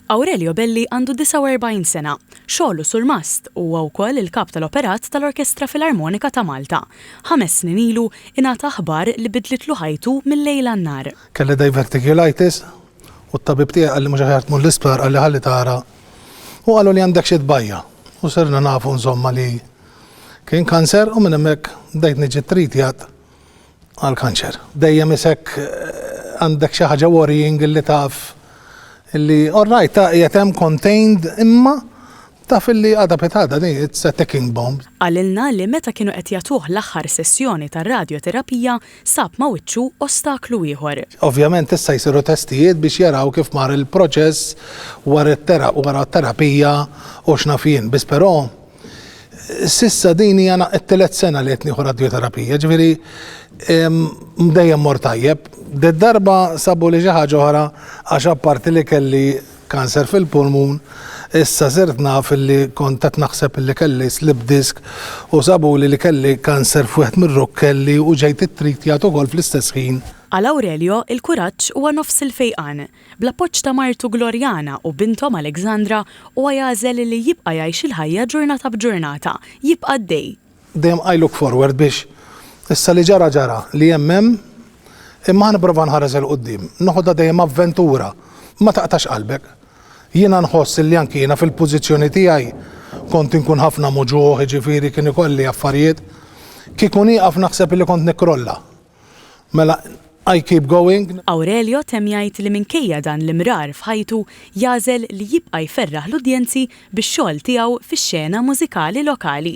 Aurelio Belli għandu 49 sena. Xogħlu surmast u huwa wkoll il-Kap tal-Operat tal-Orkestra Filarmonika ta' Malta. Ħames snin ilu ingħata aħbar li bidlitlu ħajtu mil-lejl għan-nhar. Kelli diverticulitis u t-tabib tiegħi qalli mhux aħjar tmur l-isptar qalli ħalli tara u qalu li għandek xi tbajja' u sirna nafu insomma li kien kanser u minn hemmhekk bdejt niġi tritjat Għal kanċer. Dejjem isek għandek xi ħaġa worrying illi taf illi alright ta' qiegħed hemm contained imma taf illi għada pitgħada din it's a ticking bomb. Qalilna li meta kienu qed jagħtuh l-aħħar sessjoni tar-radjoterapija sab ma' wiċċu ostaklu ieħor. Ovvjament issa jsiru testijiet biex jaraw kif mar il-proċess wara t-terapija u x'naf jien. Biss però Sissa din hija t-telet sena li qed nieħu radjoterapija, ġifieri mdejjem mor tajjeb. Ded darba sabu li xi ħaġa oħra għax apparti li kelli kanser fil-pulmun, issa sirt naf li kont qed naħseb li kelli slip disk u sabu li li kelli kanser f'wieħed mir-rukkelli u ġejt ittritjat ukoll fl-istess ħin. Għal Aurelio, il-kuraġġ huwa nofs il-fejqan. Bl-appoġġ ta' martu Gloriana u binthom Alexandra, huwa jagħżel li jibqa' jgħix il-ħajja ġurnata b'ġurnata, jibqa' għaddej. Dejjem I look forward biex issa li ġara ġara, li hemm hemm, imma ħa nipprova nħares 'il quddiem, noħodha dejjem avventura, ma taqtax qalbek. Jiena nħoss li anki jiena fil-pożizzjoni tiegħi kont inkun ħafna muġugħ, jiġifieri kien ikolli affarijiet. Kieku nieqaf naħseb li kont nikkrolla. Mela, I keep going. Aurelio temm jgħid li minkejja dan l-imrar f'ħajtu jagħżel li jibqa' jferraħ l-udjenzi bix-xogħol tiegħu fix-xena mużikali lokali.